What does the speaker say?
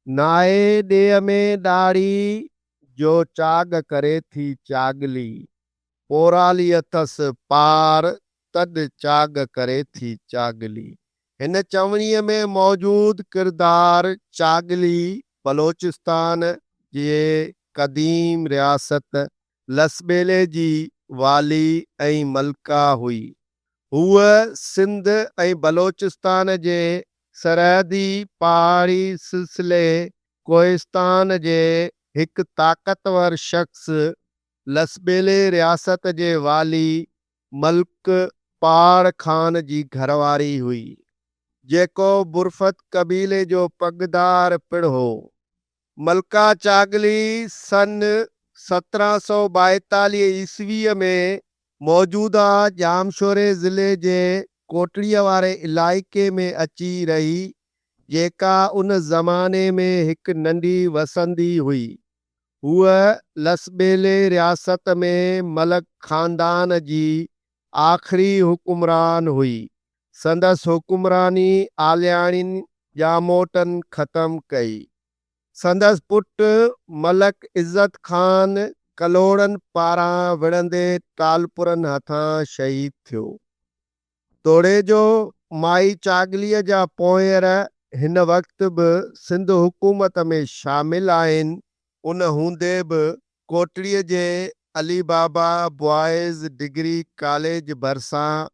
ناهي ڏيهه ۾ ڏاڙهي، جو چاڳ ڪري ٿي چاڳلي. پورالي اٿس پار، تڏ چاڳ ڪري ٿي چاڳلي. هن چوڻيء ۾ موجود ڪردار چاڳلي بلوچستان جي قديم رياست لسٻيلي جي والي ۽ ملڪه هئي. هوء سنڌ ۽ بلوچستان جي سرحدي پهاڙي سلسلي ڪوهستان جي هڪ طاقتور شخص، لسٻيلي رياست جي والي ملڪه پهاڙ خان جي گهرواري هئي، جيڪو برفت قبيلي جو پڳدار پڻ هو. ملڪه چاڳلي سن سترهن سؤ ٻائيتاليهه عيسويء ۾ موجوده ڄامشوري ضلعي جي ڪوٽڙيء واري علائقي ۾ اچي رهي، جيڪا ان زماني ۾ هڪ ننڍي وسندي هئي. هوء لسٻيلي رياست ۾ ملڪ خاندان جي آخري حڪمران هئي، سندس حڪمراني عالياڻين ڄاموٽن ختم ڪئي. سندس پٽ ملڪ عزت خان ڪلهوڙن پاران وڙهندي ٽالپرن هٿان شهيد ٿيو. توڙيجو مائي چاڳليء جا پونئير هن وقت به سنڌ حڪومت ۾ شامل آهن. ان هوندي به ڪوٽڙيء جي Ali Baba boys degree college ڀرسان